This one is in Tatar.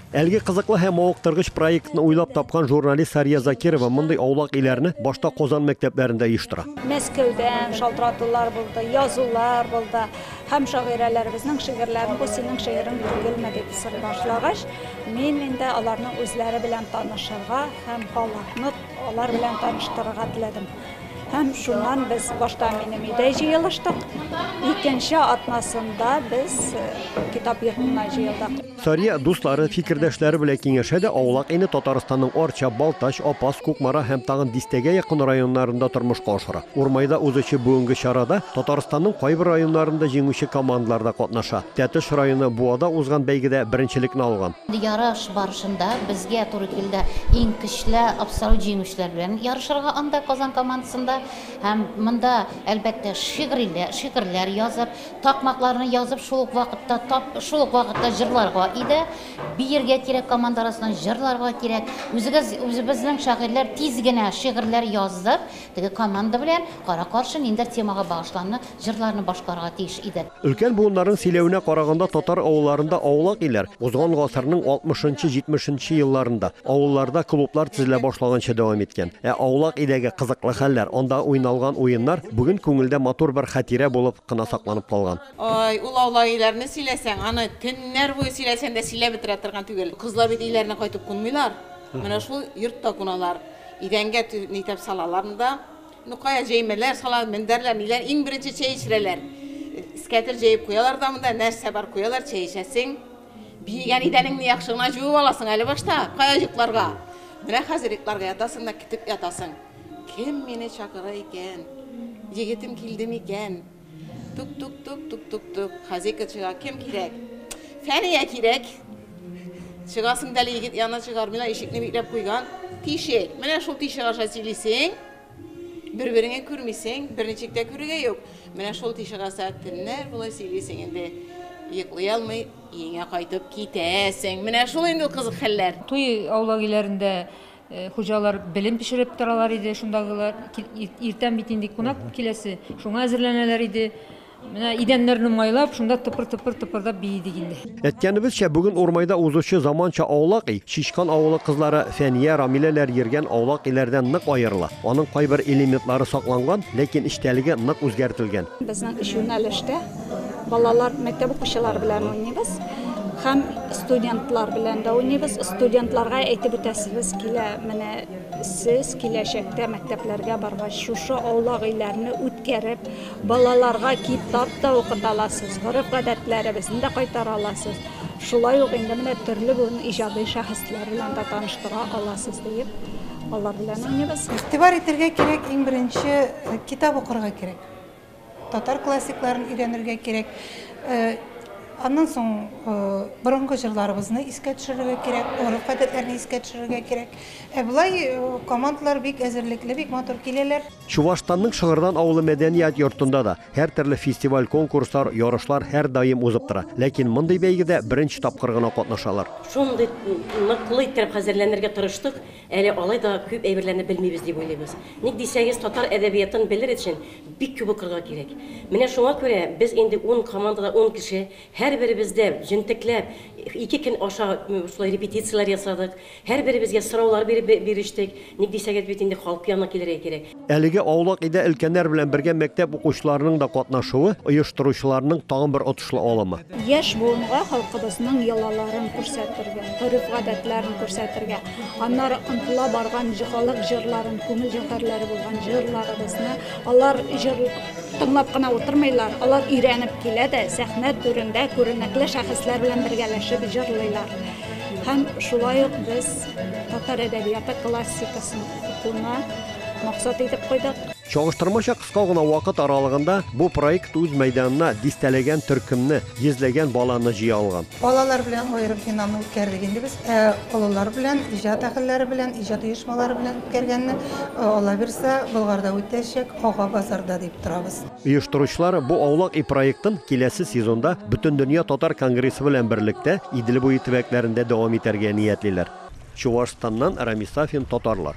Әлеге кызыклы һәм мавыктыргыч проектны уйлап тапкан журналист Сария Закирова мондый аулак иләрне башта Казан мәктәпләрендә оештыра. Мәскәүдән шалтыратулар булды, язулар булды. Һәм шагыйрәләребезнең шигырьләрен бу синең шигырың түгелме дип сорый башлагач, мин инде аларның үзләре белән танышырга һәм халыкны алар белән таныштырырга теләдем. Һәм шуннан без башта минем өйдә җыелыштык. Икенче атнасында без э, китап йортына җыелдык. Сария дуслары, фикердәшләре белән киңәшә дә аулак инде Татарстанның Арча, Балтач, Апас, Кукмара һәм тагын дистәгә якын районнарында тормышка ашыра. Урмайда узучы бүгенге чарада Татарстанның кайбер районнарында җиңүче командалар да катнаша. Тәтеш районы Буада узган бәйгедә беренчелекне алган. Ярыш барышында безгә туры килде иң көчле абсолют җиңүчеләр белән ярышырга анда, Казан командасында. Һәм монда, әлбәттә, шигъриләр, шигырьләр язып, такмакларны язып, шул ук вакытта тап, шул ук вакытта җырларга иде. Биергә кирәк команда арасыннан, җырларга кирәк. Үзегез, үзебезнең шагыйрьләр тиз генә шигырьләр яздык, теге команда белән кара-каршы ниндидер темага багышланып җырларны башкарырга тиеш иде. Өлкән буыннарның сөйләвенә караганда, татар авылларында аулак илләр узган гасырның алтмышынчы-җитмешенче елларында авылларда клублар төзелә башлаганчы дәвам иткән. Ә аулак иләге, кызыклы хәлләр, анда уйналган уеннар бүген күңелдә матур бер хатирә булып кына сакланып калган. Ой, ул аулак иләрне сөйләсәң, аны төннәр буе сөйләсәң дә сөйләп бетерә торган түгел. Кызлар бит өйләренә кайтып кунмыйлар, менә шул йортта куналар. Идәнгә тө, нитәп салалар монда. Ну кая җәймәләр салалар, мендәрләр, ниләр, иң беренче чәй эчерәләр. Скәтер җәеп куялар да монда, нәрсә бар куялар, чәй эчәсең. Биегән идәнеңне яхшы гына җуып аласың әле башта, кая йокларга. Менә хәзер йокларга ятасың да китеп ятасың. Кем мине чакыра икән? Егетем килде микән? Тук тук тук тук тук тук. Хозяйка чыга. Кем кирәк? Фәния кирәк. Чыгасың дәле егет янына чыгармыйлар, ишекне бикләп куйган. Тишек. Менә шул тишек аша сөйлисең. Бер-береңне күрмисең, берничек тә күрергә юк. Менә шул тишек аша төннәр була сөйлисең инде. Йоклый алмый, өеңә кайтып китәсең. Менә шул инде ул кызык хәлләр. Туй аулак өйләрендә Хуҗалар белен пешереп торалар иде, шундагылар. Иртән бит инде кунак киләсе, шуңа әзерләнәләр иде. Менә идәннәрне майлап, шунда тыпыр-тыпыр тыпырдап биедек инде. Әткәнебезчә, бүген Урмайда узучы заманча аулак ий, Чичкан авылы кызлары Фәния, Рамиләләр йөргән аулак иләрдән нык аерыла. Аның кайбер элементлары сакланган, ләкин эчтәлеге нык үзгәртелгән. Безнең өч юнәлештә Балалар, мәктәп укучылары белән уйныйбыз һәм студентлар белән дә уйныйбыз. Студентларга әйтеп үтәсебез килә, менә сез киләчәктә мәктәпләргә баргач, шушы аулак өйләрне үткәреп, балаларга китап та укыта аласыз, гореф-гадәтләребезне дә кайтара аласыз. Шулай ук инде менә төрле бүген иҗади шәхесләр белән дә таныштыра аласыз, диеп, алар белән уйныйбыз. Игътибар итәргә кирәк, иң беренче китап укырга кирәк. Татар классикларын өйрәнергә кирәк. Аннан соң борынгы җырларыбызны искә төшерергә кирәк, гореф-гадәтләрне искә төшерергә кирәк. Ә болай командалар бик әзерлекле, бик матур киләләр. Чувашстанның Шыгырдан авылы мәдәният йортында да һәртөрле фестиваль-конкурслар, ярышлар һәрдаим узып тора. Ләкин мондый бәйгедә беренче тапкыр гына катнашалар. Шундый ныклы иттереп хәзерләнергә тырыштык, Әле алай да күп әйберләрне белмибез дип уйлыйбыз. Ник дисәгез, татар әдәбиятын белер өчен бик күп укырга кирәк. Менә шуңа күрә без инде ун командада ун кеше, һәрберебез дә җентекләп ике көн аша шулай репетицияләр ясадык, һәрберебезгә сораулар биреп бирештек. Ник дисәгез, бит инде халык янына килергә кирәк. Әлеге аулак өйдә өлкәннәр белән бергә мәктәп укучыларының да катнашуы, оештыручыларның тагын бер отышлы алымы. Яшь буынга халкыбызның йолаларын күрсәтергә, гореф-гадәтләрен күрсәтергә, аннары омтыла барган халык җырларын, күңел җәүһәрләре булган җырларыбызны, алар җыр тыңлап кына утырмыйлар, алар өйрәнеп килә дә, сәхнә түрендә күренекле шәхесләр белән бергәләшеп җырлыйлар. Һәм шулай ук без татар әдәбияты классикасын, Шуны максат итеп куйдык. Чагыштырмача кыска гына вакыт аралыгында бу проект үз мәйданына дистәләгән төркемне, йөзләгән баланы җыя алган. Балалар белән аерым финал үткәрдек инде без. Ә олылар белән, иҗат әһелләре белән, иҗат оешмалары белән үткәргәнне, Алла бирсә, Болгарда үтәчәк, Ага базарда дип торабыз. Оештыручылар бу Аулак өй проектын киләсе сезонда Бөтендөнья татар конгрессы белән берлектә Идел буе төбәкләрендә дәвам итәргә ниятлиләр. Чувашстаннан Рамис Сафин татарлар.